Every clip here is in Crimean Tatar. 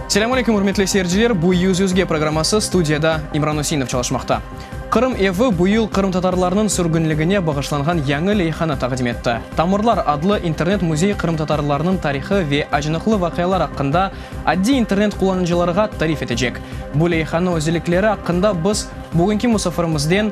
Selâm aleyküm, ürmetli seyirciler! Bu Yüz yüzge programması, studiyada İmran Üseinov çalışmaqta. Qırım evi bu yıl qırımtatarlarnıñ sürgünligine bağışlanğan yañı leyhanı taqdim etti. Tamırlar adlı internet müzey qırımtatarlarnıñ tarihı ve acınıqlı vaqialar aqqında addiy internet qullanıcılarğa tarif etecek. Bu leyhanıñ özellikleri aqqında biz bugünki musafirimizden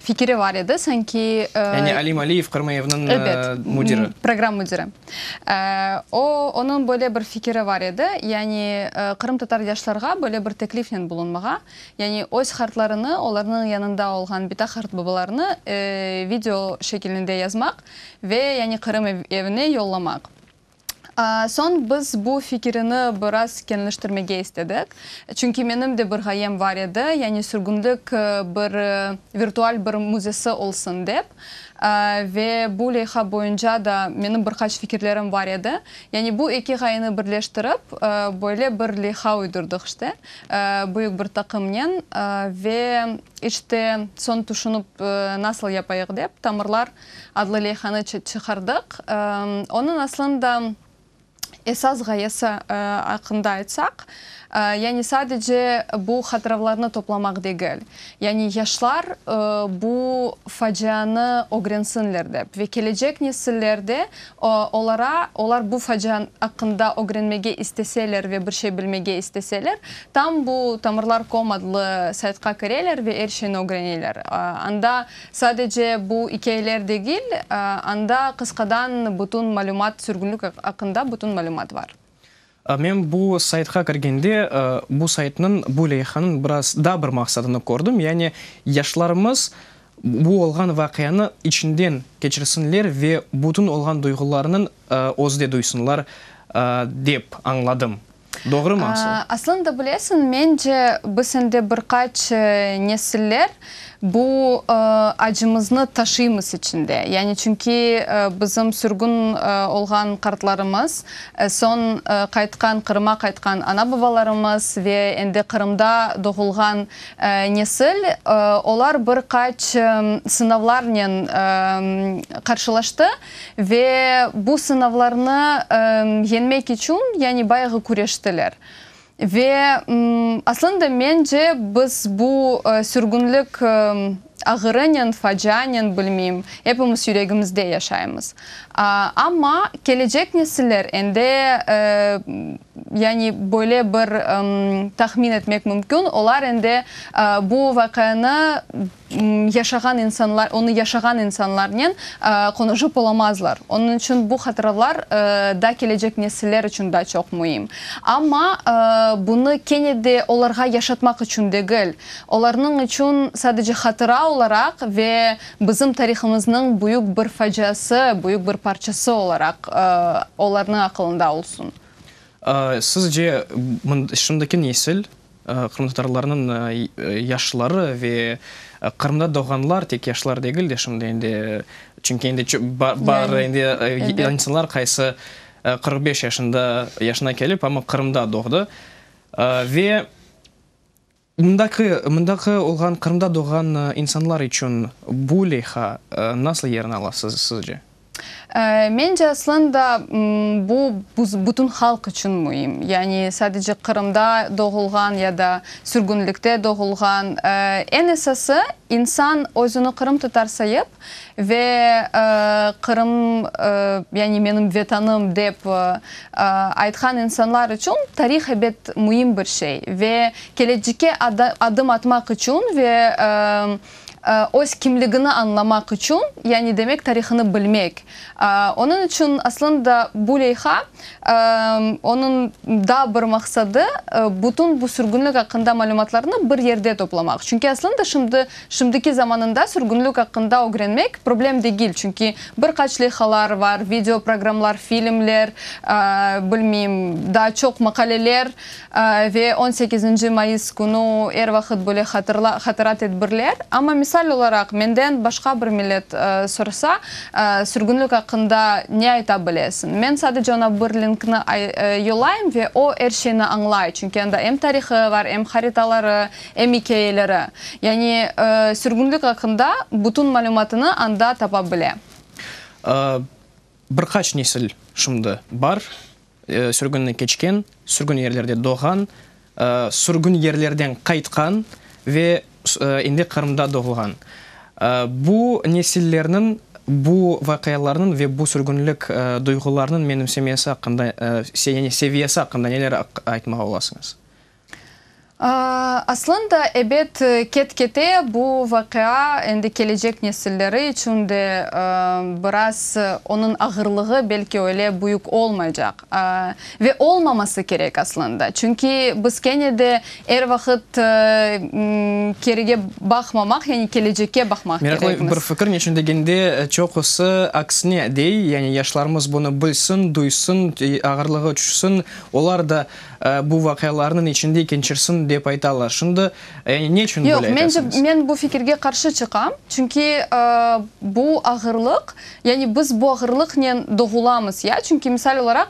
fikiri var edi, sanki. Yani Alim Aliyev, Qırmıyevniñ müdiri. Ebet, program müdiri. O, onıñ böyle bir fikiri var edi, yani qırımtatar yaşlarğa böyle bir teklifnen bulunmağa, yani öz qartlarını, olarnıñ yanında olğan bita qartbabalarını video şekilinde yazmaq ve yani Qırım evine yollamaq. Soñ biz bu fikirini biraz keñleştirmege istedik. Çünki menim de bir ğayem bar edi, yani sürgünlik bir virtual bir müzesi olsun dep. Ve bu leyha boyunca da menim bir qaç fikirlerim bar edi. Yani bu eki ğayeni birleştirip, böyle bir leyha uydurdıq işte, büyük bir taqımnen. Ve işte soñ tüşünip, nasıl yapayıq dep, tamırlar adlı leyhanı çıqardıq. Onıñ aslında esas ğayesi aqqında aytsaq, yani sadece bu hatıravlarnı toplamaq degil, yani yaşlar bu facianı ögrensinler dep ve kelecek nesiller de olara, olar bu facia aqqında ögrenmege isteseler ve bir şey bilmege isteseler, tam bu tamırlar. Com adlı saytqa kireler ve er şeyni ögreneler. Anda Sadece bu ikâyeler degil, anda qısqadan bütün malümat, sürgünlik aqqında bütün malümat bar. Men bu saytqa kirgende, bu saytnıñ, bu leyhanıñ biraz daa bir maqsadını kördim, yani yaşlarımız bu olğan vaqianı içinden keçirsinler ve bütün olğan duyğularnıñ özde duysınlar dep añladım. Doğrumı asıl? Aslında bilesiñ, mence, biz sende bir qaç nesiller bu acımıznı taşıymız içinde. Yani çünki bizim sürgün olğan qartlarımız, soñ qaytqan, Qırıma qaytqan ana-babalarımız ve endi Qırımda doğulğan nesil, olar bir qaç sınavlarnen qarşılaştı. Ve bu sınavlarnı yeñmek içün yani bayağı küreştiler. Ve aslında mence biz bu sürgünlik ağırınen, facianen, bilmeyim, epimiz yüregimizde yaşaymız. Amma kelecek nesiller endi yani böyle bir tahmin etmek mümkün, olar endi bu vaqianı yaşağan insanlar, onı yaşağan insanlarnen qonuşıp olamazlar. Onıñ içün bu hatıralar da kelecek nesiller içün da çoq müim. Amma bunı kene de olarğa yaşatmaq içün degil, olarnıñ içün sadece hatıra olaraq ve bizim tarihımıznıñ büyük bir faciası, büyük bir parçası olaraq olarnıñ aqılında olsun. Sizce, şimdiki nesil Qırımtatarlarnıñ yaşları ve Qırımda doğğanlar, tek yaşlar degil de, şimdi endi, çünki endi bar endi insanlar, qaysı qırq beş yaşında, yaşına kelip, amma Qırımda doğdı. Ve mındaki, mındaki olğan, Qırımda doğğan insanlar içün bu leyha nasıl yerini ala sizce? Mence, aslan da, bu bütün halq içün müim. Yani sadece Qırımda doğulğan ya da sürgünlikte doğulğan, eñ esası, insan özüni qırımtatar sayıp ve Qırım, yani menim Vetanım dep aytqan insanlar içün tarih ebet müim bir şey ve kelecekke adım atmaq içün ve öz kimligini añlamaq içün, yani demek tarihını bilmek. Onıñ içün aslında bu leyha, onıñ daa bir maqsadı, bütün bu sürgünlik aqqında malümatlarnı bir yerde toplamaq. Çünki aslında şimdi, şimdiki zamanında sürgünlik aqqında ögrenmek problem degil, çünki bir qaç leyhalar var, video programlar, filmler, bilmeyim, daa çoq maqaleler, Ve on sekizinci mayıs künü er vaqıt böyle hatırla, hatıra tedbirler. Amma misal olaraq menden başqa bir millet sorsa, sürgünlik aqqında ne ayta bilesiñ? Men sadece oña bir linkni yollayım ve o er şeyni añlay, çünki anda em tarihı var, em haritaları, em ikâyeleri. Yani sürgünlik aqqında bütün malümatını anda tapa bile. Bir qaç nesil şimdi bar, sürgünni keçken, sürgün yerlerde doğğan, sürgün yerlerden qaytqan ve endi Qırımda doğulğan bu nesillerniñ bu vaqialarnıñ ve bu sürgünlik duyğularnıñ menimsemesi aqqında, seviyesi aqqında neler aytmağa olasıñız? Aslında, ebet, ket-kete bu vaqia endi kelecek nesilleri içün de biraz onıñ ağırlığı belki öyle büyük olmaycaq. Ve olmaması kerek, aslında. Çünki biz kene de er vaqıt kerige baqmamaq, yani kelecekke baqmaq kerekmiz. Meraqlı bir fikir, neçün degende çoqusı aksine dey, yani yaşlarımız bunı bilsin, duysın, ağırlığı tüşsün, olar da Bu vaqialarnıñ içinde ikinçirsin dep aytalar. Şimdi, yani ne içün böyle aytasıñız? Yoq, mence, men bu fikirge qarşı çıqam. Çünki bu ağırlıq, yani biz bu ağırlıqnen doğulamız, ya. Çünki misal olaraq,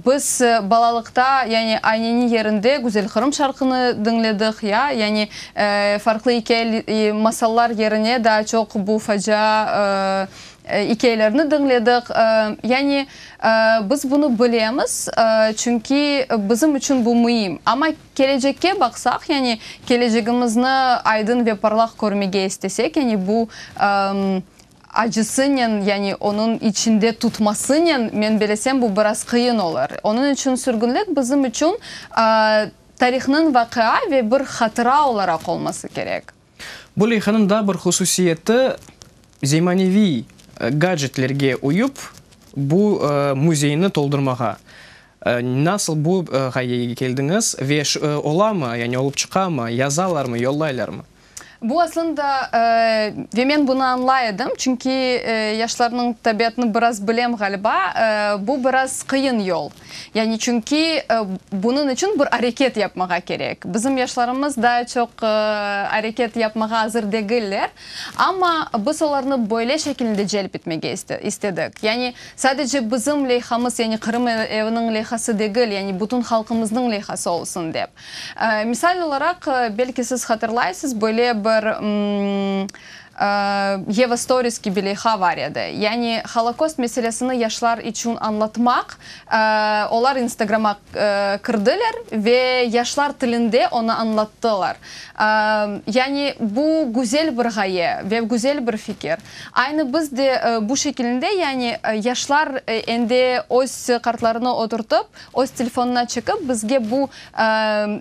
biz balalıqta, yani ayneniñ yerinde Güzelqırım şarqını diñledik, ya, yani farqlı ikâye, masallar yerine daa çoq bu facia ikâyelerni diñledik. Yani. Biz bunı bilemiz, çünki bizim içün bu müim. Amma kelecekke baqsaq, yani kelecegimizni aydın ve parlaq körmege istesek, yani bu acısınen, yani onıñ içinde tutmasınen, men belesem, bu biraz qıyın olur. Onıñ içün sürgünlik bizim içün tarihnıñ vaqia ve bir hatıra olaraq olması kerek. Bu leyhanıñ daa bir hususiyeti, zemaneviy gadjetlerge uyıp, bu müzeyni toldurmağa. Nasıl bu ğayege keldiñiz ve olamı, yani olıp çıqamı, yazalarmı, yollaylarmı? Bu aslında, ve men bunı añlay edim, çünki yaşlarnıñ tabiatını biraz bilem, ğaliba, bu biraz qıyın yol. Yani çünki bunıñ içün bir areket yapmağa kerek. Bizim yaşlarımız daa çoq areket yapmağa azır degiller. Amma biz olarnı böyle şekilinde celp etmege istedik. Yani sadece bizim leyhamız, yani Qırım eviniñ leyhası degil, yani bütün halqımıznıñ leyhası olsun dep. Misal olaraq, belki siz hatırlaysız, böyle bir Yeva Stories kibiLeyha var edi. Yani Holokost meselesini yaşlar içün añlatmaq, olar instagram'a kirdiler ve yaşlar tilinde onı añlattılar. Yani bu güzel bir ğaye ve güzel bir fikir. Aynı biz de bu şekilinde, yani yaşlar endi öz kartlarını oturtıp, öz telefonına çekip bizge bu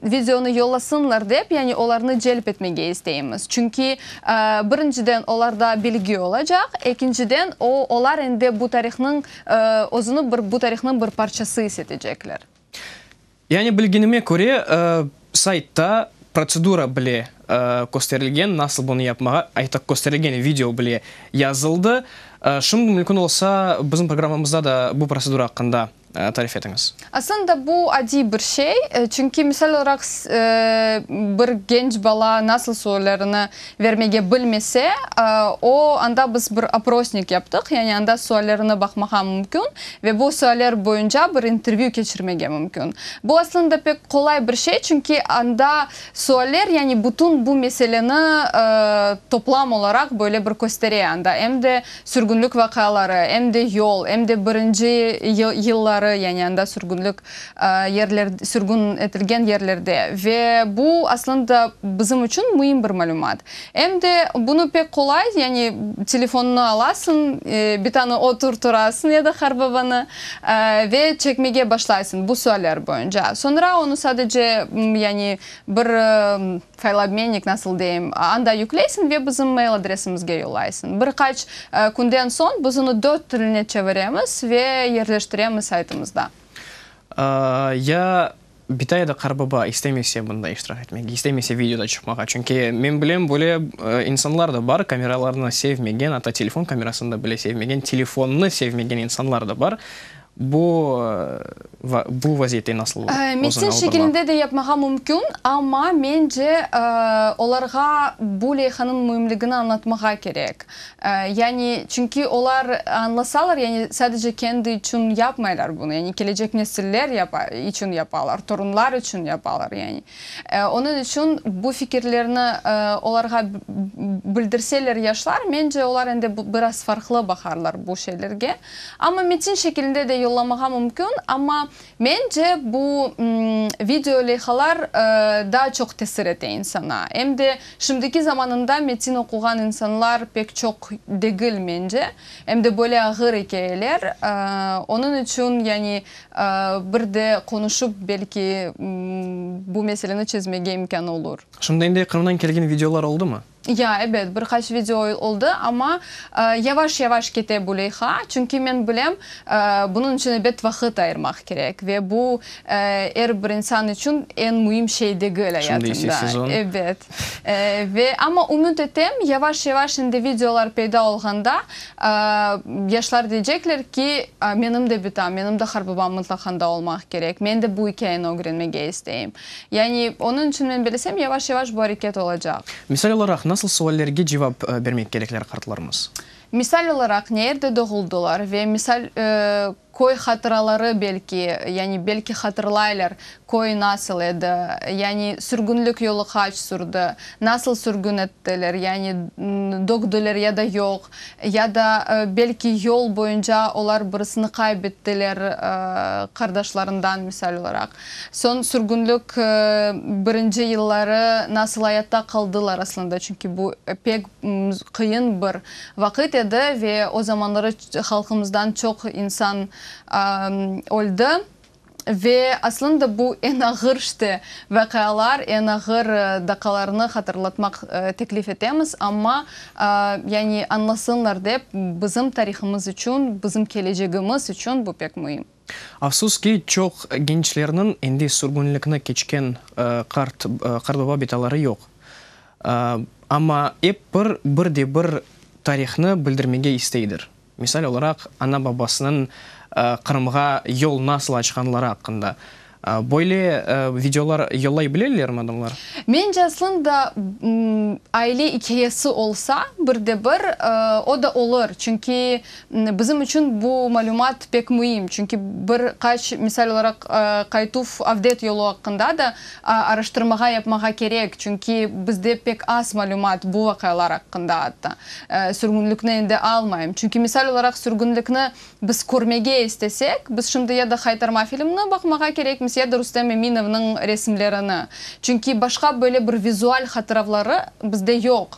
videonı yollasınlar dep, yani olarnı celp etmege isteymiz. Çünki, birinciden, olarda bilgi olacaq, ekinciden, o, olar endi bu tarihnıñ, özüni bir bu tarihnıñ bir parçası is etecekler. Yani bilgenime köre, saytta protsedura bile kösterilgen, nasıl bunı yapmağa, aytaq, kösterilgen video bile yazıldı. Şimdi mümkün olsa, bizim programmamızda da bu protsedura aqqında tarif etiñiz. Aslında bu adiy bir şey, çünki misal olaraq bir genç bala nasıl suallerini vermege bilmese, o, anda biz bir oprosnik yaptıq, yani anda suallerine baqmağa mümkün ve bu sualler boyunca bir intervyü keçirmege mümkün. Bu aslında pek qolay bir şey, çünki anda sualler, yani bütün bu meseleni toplam olaraq böyle bir köstere anda, em de Sürgünlik vaqiaları, em de yol, em de birinci yılları, yani anda sürgünlik yerler, sürgün etilgen yerlerde. Ve bu aslında bizim içün müim bir malümat. Em de bunı pek qolay, yani telefonını alasıñ, bir tane otur turasıñ ya da qarbabanı, ve çekmege başlaysıñ bu sualler boyunca. Soñra onı sadece, yani bir. Faylobmennik, nasıl deyim, anda yükleysiñ ve bizim mail adresimizge yollaysıñ. Bir qaç künden soñ biz onı dört tiline çeviremiz ve yerleştiremiz saytımızda. Ya bita ya da qarıbaba istemese bunda iştirak etmege, istemese videoda çıqmağa. Çünki men bilem, böyle insanlar da bar, kameralarnı sevmegen, atta telefon kamerasını da bile sevmegen, telefonnı sevmegen insanlar da bar. Bu bu vaziyette nasıl ola? Metin şekilinde de yapmağa mümkün, amma mence olarğa bu leyhanıñ müimligini añlatmağa kerek. Yani çünki olar añlasalar, yani sadece kendi içün yapmaylar bunu, yani kelecek nesiller içün yapalar, torunlar içün yapalar, yani. Onıñ içün bu fikirlerni olarğa bildirseler yaşlar, mence, olar endi biraz farqlı baqarlar bu şeylerge. Amma metin şekilinde de yollamağa mümkün, amma, mence, bu video leyhalar daa çoq tesir ete insana. Em de şimdiki zamanında metin oquğan insanlar pek çoq degil, mence, em de böyle ağır ikâyeler. Onıñ içün, yani, Bir de qonuşıp belki bu meseleni çezmege imkân olur. Şundayınday Qırımdan kelgen videolar oldumı? Ya, ebet, bir qaç video oldı, amma yavaş-yavaş kete bu leyha, çünki men bilem, bunıñ içün ebet vaqıt ayırmaq kerek ve bu er bir insan içün eñ müim şey degil ayatında. Şundaysi sezon. Ebet. Ve amma ümüt etem, yavaş-yavaş endi videolar peyda olğanda, yaşlar deycekler ki, menim de bitam, menim de Harbabam mıtlaqanda olmaq kerek, men de bu ikâyeni ögrenmege isteyim. Yani, onıñ içün men belesem, yavaş-yavaş bu areket olacaq. Misal olaraq, nasıl suallerge cevap bermek kerekler qartlarımız? Misal olaraq, neerde doğuldılar ve misal, köy hatıraları belki, yani belki hatırlaylar, köy nasıl edi, yani sürgünlik yolu qaç sürdi, nasıl sürgün ettiler, yani dögdüler ya da yoq, ya da belki yol boyunca olar birisini qaybettiler, qardaşlarından, misal olaraq. Soñ sürgünlik birinci yılları nasıl ayatta qaldılar aslında, çünki bu pek Qıyın bir vaqıt edi ve o zamanları halqımızdan çoq insan öldi. Ve aslında bu eñ ağır işte vaqialar, eñ ağır daqalarnı hatırlatmaq teklif etemiz, amma yani añlasınlar dep bizim tarihımız içün, bizim kelecegimiz içün bu pek müim. Afsus ki, çoq gençlerniñ endi sürgünlikni keçken qart Qardoba betaları yoq. Amma ep bir, bir de bir tarihni bildirmege isteydir. Misal olaraq, ana-babasınıñ Qırımğa yol nasıl açqanları aqqında, Böyle videolar yollay bilelermi adamlar? Mence aslında aile ikâyesi olsa bir de bir o da olur, çünki bizim içün bu malümat pek müim, çünki bir qaç misal olaraq qaytuv avdet yolu aqqında da araştırmağa yapmağa kerek, çünki bizde pek az malümat bu vaqialar aqqında, atta sürgünlikni endi almayım, çünki misal olaraq sürgünlikni Biz körmege istesek, biz şimdi ya da Haytarma filmni baqmağa kerekmiz, ya da Rustem Eminovnıñ resimlerini. Çünki başqa böyle bir vizual hatıravları bizde yoq.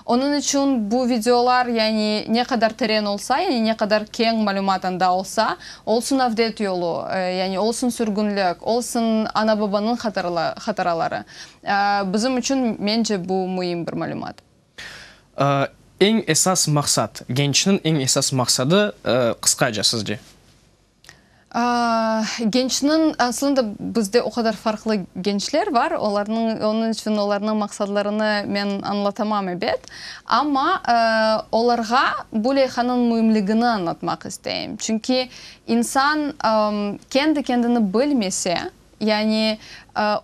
Onıñ içün bu videolar, yani ne qadar teren olsa, yani ne qadar keñ malümat anda olsa, olsun avdet yolu, yani olsun sürgünlik, olsun ana-babanıñ hatıraları, bizim içün, mence, bu müim bir malümat. Eñ esas maqsat, gençniñ eñ esas maqsadı qısqaca sizce? Gençniñ, aslında bizde o qadar farqlı gençler bar, olarnıñ, onıñ içün olarnıñ maqsadlarını men añlatamam ebet. Amma olarğa bu leyhanıñ müimligini añlatmaq isteyim. Çünki insan kendi kendini bilmese, Yani,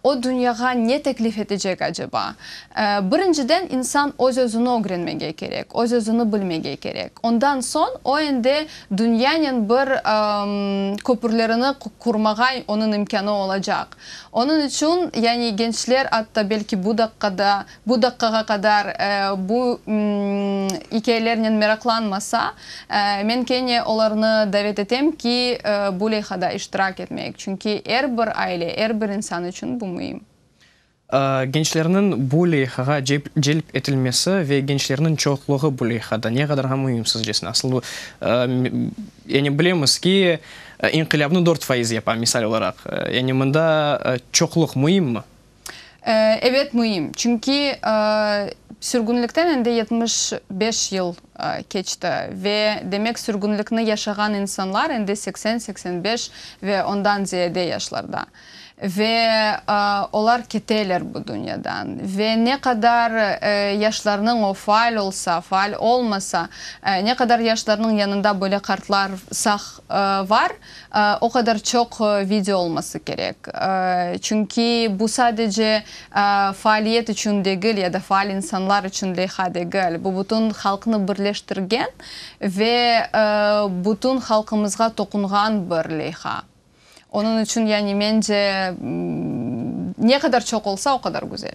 o dünyağa ne teklif etecek aceba? Birinciden, insan öz-özüni ögrenmege kerek, öz-özüni bilmege kerek. Ondan soñ, o endi dünyanen bir köpürlerini qurmağa onıñ imkânı olacaq. Onıñ içün, yani gençler atta belki bu daqqada Bu daqqağa qadar bu ikâyelernen meraqlanmasa, men kene olarnı davet etem ki, bu leyhada iştirak etmeyik, çünki er bir aile, er bir insan içün bu müim. Gençlerniñ bu leyhağa celp etilmesi ve gençlerniñ çoqluğı bu leyhada ne qadarğa müim sizcesine? Asıl bu, yani bilemiz ki, inqilâbnı dört faiz yapa, misal olaraq, yani mında çoqluq müimmi? Ebet müim, çünki sürgünlikten endi yetmiş beş yıl keçti ve, demek, sürgünlikni yaşağan insanlar endi seksen, seksen beş ve ondan ziyade yaşlarda. Ve olar keteler bu dünyadan. Ve ne qadar yaşlarnıñ o faal olsa, faal olmasa, ne qadar yaşlarnıñ yanında böyle qartlar sağ var, O qadar çoq video olması kerek. Çünki bu sadece faaliyet içün degil ya da faal insanlar içün leyha degil, bu bütün halqnı birleştirgen ve bütün halqımızğa toqunğan bir leyha. Onıñ içün, yani, mence, ne qadar çoq olsa, o qadar güzel.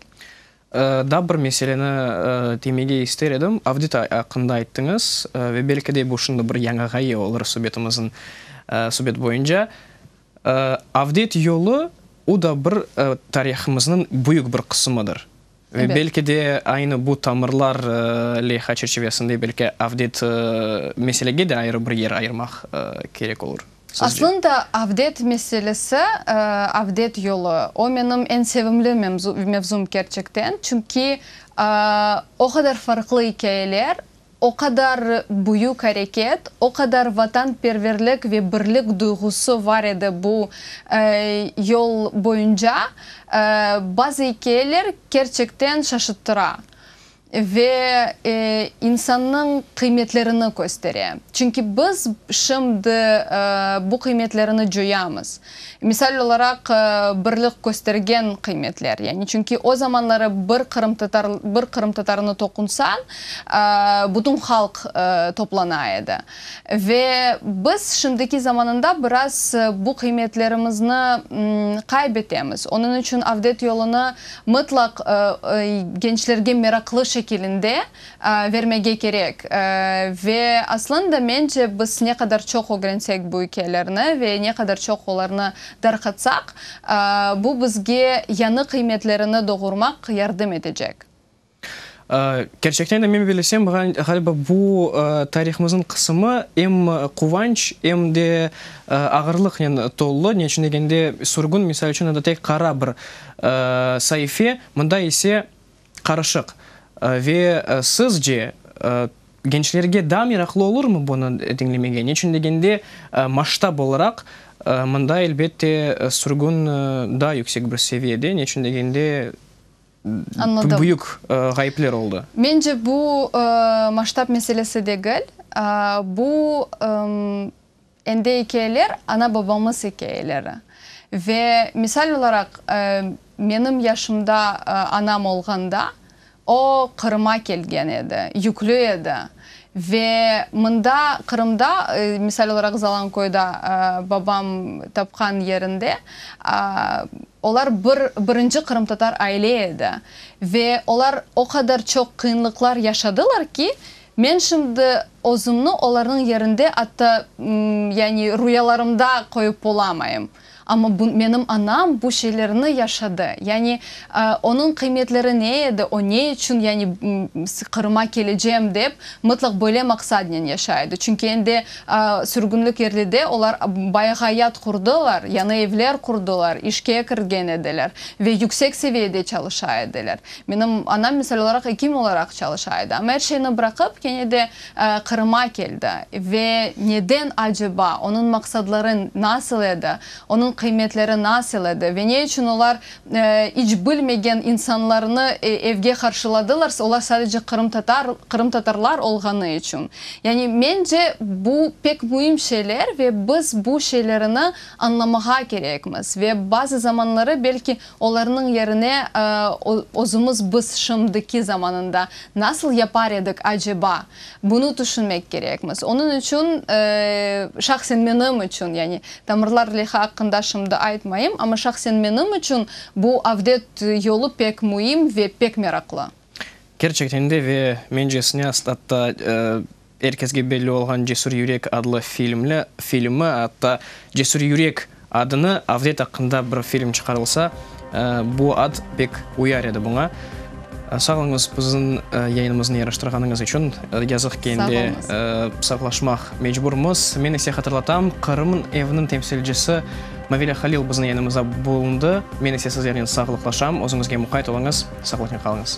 Daa bir meseleni temege ister edim. Avdit aqqında ayttıñız ve belki de bu şimdi bir yañı ğaye olur subetimiziñ subet boyunca. Avdit yolu o da bir tarihımıznıñ büyük bir qısımıdır. Ve belki de aynı bu tamırlar leyha çerçivesinde belki avdit meselege de ayrı bir yer ayırmaq kerek olur. Aslında avdet meselesi, avdet yolu, o menim eñ sevimli mevzum kerçekten, çünki o qadar farqlı ikâyeler, o qadar büyük areket, o qadar vatanperverlik ve birlik duyğusı var edi bu yol boyunca, bazı ikâyeler kerçekten şaşıttıra. Ve insannıñ qıymetlerini köstere. Çünki biz şimdi bu qıymetlerini coyamız. Misal olaraq, birlik köstergen qıymetler. Yani çünki o zamanları bir qırımtatar, bir qırımtatarnı toqunsañ, bütün halq toplana edi. Ve biz şimdiki zamanında biraz bu qıymetlerimizni qaybetemiz. Onıñ içün avdet yolunı mıtlaq gençlerge meraqlı şekilinde vermege kerek. Ve aslında mence biz ne qadar çoq ögrensek bu ikelerni ve ne qadar çoq olarnı darqatsaq, bu bizge yañı qıymetlerini doğurmaq yardım etecek. Kerçekten de men bilesem, ğaliba bu tarihımıznıñ qısımı em quvanç, em de ağırlıqnen tollı. Ne içün degende, sürgün, misal içün, o da tek qara bir saife, mında ise qarışıq. Ve sizce, gençlerge daa meraqlı olurmı bunı diñlemege? Ne içün degende, masştab olaraq mında, elbette, sürgün daa yüksek bir seviyede. Ne içün degende. Anladım. Büyük ğayıpler oldı. Mence bu maştab meselesi degil, bu endi ikeyeler, ana-babamız ikeyeleri. Ve misal olaraq menim yaşımda anam olğanda o Qırıma kelgen edi, yüklü edi. Ve mında, Qırımda, misal olaraq Zalanköyda, babam tapqan yerinde, olar bir birinci qırımtatar aile edi. Ve olar o qadar çoq qıyınlıqlar yaşadılar ki, men şimdi özümni olarnıñ yerinde atta, yani, rüyalarımda qoyıp bolamayım. Amma bu, menim anam bu şeylerni yaşadı. Yani, onıñ qıymetleri ne edi, o ne içün, yani, Qırıma kelecem dep, mıtlaq böyle maqsadnen yaşay edi. Çünki endi sürgünlik yerlide olar bayaq ayat qurdılar, yañı evler qurdılar, işke kirgen ediler ve yüksek seviyede çalışa ediler. Menim anam, misal olaraq, ekim olaraq çalışa edi. Amma er şeyni bıraqıp, kene de Qırım'a keldi ve neden aceba, onıñ maqsadları nasıl edi, onıñ qıymetleri nasıl edi ve ne içün olar iç bilmegen insanlarnı evge qarşıladılar, olar sadece qırımtatar, qırımtatarlar olğanı içün. Yani mence bu pek müim şeyler ve biz bu şeylerini añlamağa kerekmiz ve bazı zamanları belki Olarnıñ yerine özümiz biz şimdiki zamanında nasıl yapar edik aceba? Bunı tüşünmek kerekmiz. Onıñ içün, şahsen menim içün, yani tamırlar lehi aqqında şimdi aytmayım, amma şahsen menim içün bu avdet yolu pek müim ve pek meraqlı. Kerçekten de ve mencesine aslında Er kesge belli olğan Cesür yürek adlı filmli filmi, atta Cesür yürek adını avdet aqqında bir film çıqarılsa, bu ad pek uyar edi buña. Sağ olñız biziñ yayınımıznı yaraştırğanıñız içün. Yazıq ki endi saqlaşmaq mecburmız. Men ise hatırlatam, Qırım evniñ temsilcisi Mavile Halil biziñ yanımızda bulundı. Men ise sizlernen sağlıqlaşam. Özüñizge muqayt oluñız, saqlıqnen qalıñız.